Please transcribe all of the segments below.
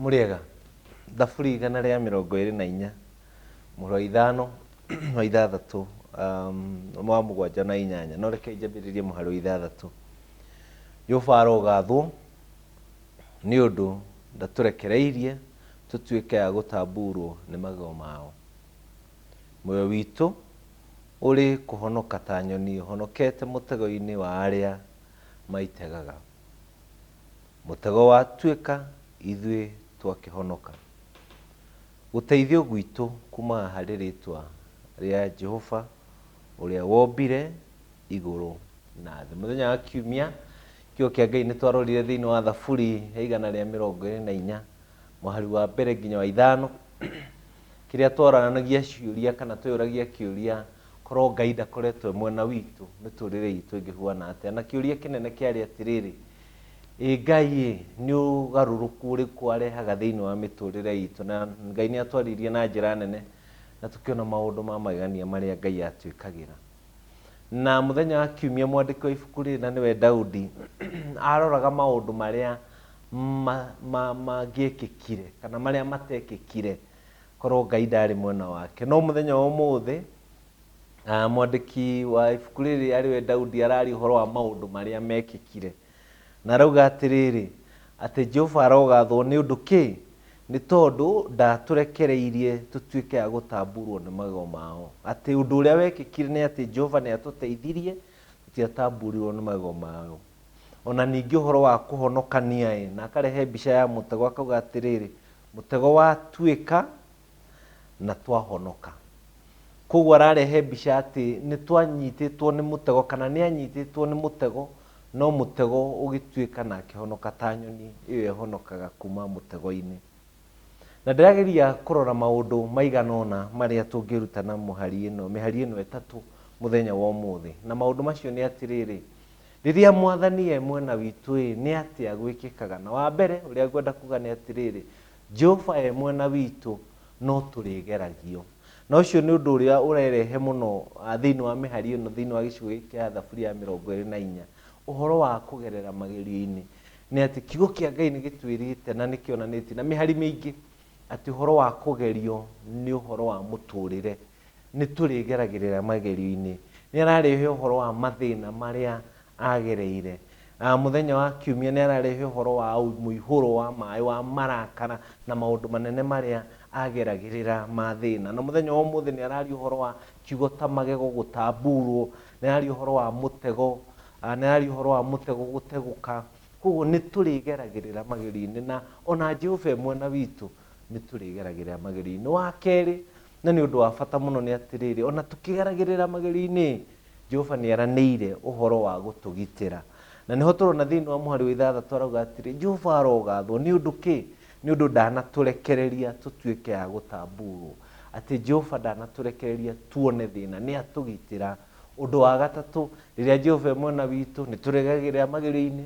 Mũrĩega. Thaburi igana rĩa mĩrongo ĩrĩ na inya mũhuro wa ithano wa ithathatũ um, wa mũgwanja na inyanya no reke njambĩrĩrie mũhari wa ithathatũ jehova arogathwo nĩ ũndũ ndatũrekereirie tũtuĩke a gũtambuurwo nĩ magego mao muoyo witũ ũrĩ kũhonoka ta nyoni ũhonokete mũtego-inĩ wa arĩa maitegaga Mũtego watuĩka ithuĩ twakĩhonoka. Gũteithio gwitũ kuumaga harĩ rĩĩtwa rĩa Jehova ũrĩa wombire igũrũ na thĩ. Mũthenya wa Kiumia, Kiugo kĩa Ngai nĩ twarorire thĩinĩ wa Thaburi ya igana rĩa mĩrongo ĩrĩ na inya, mũhari wa mbere nginya wa ithano, kĩrĩa twaranagia ciũria kana tweyũragia kĩũria, korwo Ngai ndakoretwo e mwena witũ, mĩtũrĩre itũ ĩngĩhuana atĩa? Na kĩũria kĩnene kĩarĩ atĩrĩrĩ, Ĩ Ngai ĩ, nĩ ũgarũrũku ũrĩkũ arehaga thĩinĩ wa mĩtũũrĩre itũ? Na Ngai nĩ atwaririe na njĩra nene, na tũkĩona maũndũ ma magegania marĩa Ngai atwĩkagĩra. Na mũthenya wa kiumia mwandĩki wa ibuku rĩrĩ na nĩwe Daudi aroraga maũndũ marĩa ma- ma- mangĩekĩkire kana marĩa matekĩkire korwo Ngai ndarĩ mwena wake. No mũthenya wa ũmũthĩ Ah, mwandĩki wa ibuku rĩrĩ arĩ we daudi araria ũhoro wa maũndũ marĩa mekĩkire na arauga atĩrĩrĩ atĩ jehova arogathwo nĩ ũndũ kĩ nĩ tondũ ndatũrekereirie tũtuĩke a gũtamburwo nĩ magego mao atĩ ũndũ ũrĩa wekĩkire nĩ atĩ jehova nĩ atũteithirie tũtiatamburirwo nĩ magego mao ona ningĩ ũhoro wa kũhonokania ĩ na akarehe mbica ya mũtego akauga atĩrĩrĩ mũtego watuĩka na twahonoka. Kwoguo ararehe mbica atĩ nĩ twanyitĩtwo nĩ mũtego kana nĩ anyitĩtwo nĩ mũtego no mũtego ũgĩtuĩka na akĩhonoka ta nyoni ĩyo ĩhonokaga kuma mũtego-inĩ. Na ndĩrageria kũrora maũndũ maigana ũna marĩa tũngĩruta na mũhari ĩno, mĩhari ĩno ĩtatũ mũthenya wa ũmũthĩ. Na maũndũ macio nĩ atĩrĩrĩ, rĩrĩa mwathani e mwena witũ-ĩ, nĩ atĩa gwĩkĩkaga? Na wa mbere ũrĩa ngwenda kuga nĩ atĩrĩrĩ, Jehova e mwena witũ, no tũrĩgeragio. Na ũcio nĩ ũndũ ũrĩa ũrerehe mũno thĩinĩ wa mĩhari ĩno, thĩinĩ wa gĩcigo gĩkĩ kĩa Thaburi ya mĩrongo ĩrĩ na inya, ũhoro wa kũgerera magerio-inĩ. Nĩ atĩ kiugo kĩa Ngai nĩ gĩtwĩrĩte na nĩ kĩonanĩtie na mĩhari mĩingĩ atĩ ũhoro wa kũgerio nĩ ũhoro wa mũtũrĩre. Nĩ tũrĩgeragĩrĩra magerio-inĩ. Nĩ ararehe ũhoro wa mathĩna marĩa agereire. Mũthenya wa kiumia nĩ ararehe ũhoro wa mũihũro wa maĩ, wa marakara na maũndũ manene marĩa ageragĩrĩra ma thĩna. Na mũthenya wa ũmũthĩ nĩ araria ũhoro wa kiugo ta magego gũtamburwo, nĩ araria ũhoro wa mũtego, nĩ araria ũhoro wa mũtego gũtegũka. Kwoguo nĩ tũrĩgeragĩrĩra magerio-inĩ na ona Jehova e mwena witũ. nĩ tũrĩgeragĩrĩra magerio-inĩ. Wa kerĩ, na nĩ ũndũ wa bata mũno nĩ atĩrĩrĩ, ona tũkĩgeragĩrĩra magerio-inĩ, Jehova nĩ eranĩire ũhoro wa gũtũgitĩra. Na nĩho tũrona thĩinĩ wa mũhari wa ithathatũ arauga atĩrĩ, Jehova arogathwo nĩ ũndũ kĩ? Nĩ ũndũ ndanatũrekereria tũtuĩke a gũtambuurwo. Atĩ Jehova ndanatũrekereria tuone thĩna, nĩ atũgitĩra. Ũndũ wa gatatũ, rĩrĩa Jehova e mwena witũ, nĩ tũrĩgeragĩrĩra magerio-inĩ,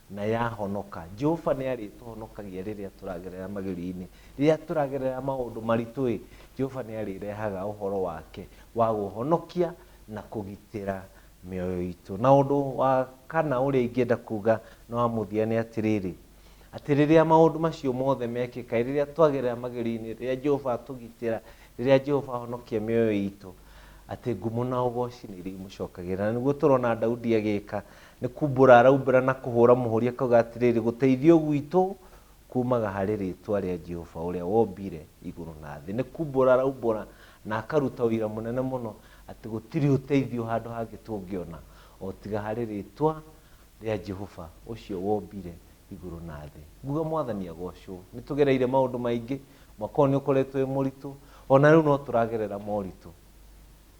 Na yahonoka. Jehova nĩ arĩtũhonokagia rĩrĩa tũragerera magerio-inĩ. Rĩrĩa tũragerera maũndũ maritũ-ĩ, Jehova nĩ arĩrehaga ũhoro wake wa gũhonokia na kũgitĩra mĩoyo itũ. Na ũndũ wa kana ũrĩa ingĩenda kuuga na wa mũthia nĩ atĩrĩrĩ, atĩ rĩrĩa maũndũ macio mothe mekĩka-ĩ, rĩrĩa twagerera magerio-inĩ, rĩrĩa Jehova atũgitĩra, rĩrĩa Jehova ahonokia mĩoyo itũ, atĩ ngumo na ũgooci nĩ irĩmũcokagĩra. Na nĩguo tũrona Daudi agĩka. Nĩ kumbũra araumbũra na kũhũũra mũhũũri akoiga atĩrĩrĩ, Gũteithio gwitũ kuumaga harĩ rĩĩtwa rĩa Jehova ũrĩa wombire igũrũ na thĩ. Nĩ kumbũra araumbũra na akaruta ũira mũnene mũno atĩ gũtirĩ ũteithio handũ hangĩ tũngĩona o tiga harĩ rĩĩtwa rĩa Jehova ũcio wombire igũrũ na thĩ. Nguga Mwathani agoocwo. Nĩ tũgereire maũndũ maingĩ, mwaka ũyũ nĩ ũkoretwo wĩ mũritũ, o na rĩu no tũragerera moritũ.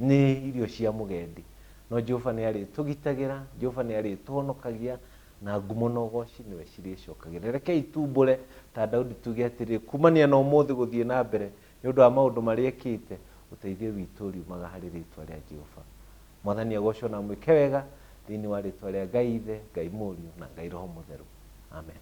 Nĩ irio cia mũgendi. No Jehova nĩ arĩtũgitagĩra, Jehova nĩ arĩtũhonokagia, na ngumo na ũgooci nĩwe cirĩcokagĩra. Rekei tuumbũre ta Daudi tuge atĩrĩ, Kuumania na ũmũthĩ gũthiĩ na mbere, nĩ ũndũ wa maũndũ marĩa ekĩte, ũteithio witũ ũriumaga harĩ rĩĩtwa rĩa Jehova. Mwathani agoocwo na amwĩke wega thĩinĩ wa rĩĩtwa rĩa Ngai Ithe, Ngai Mũriũ, na Ngai Roho Mũtheru. Amen.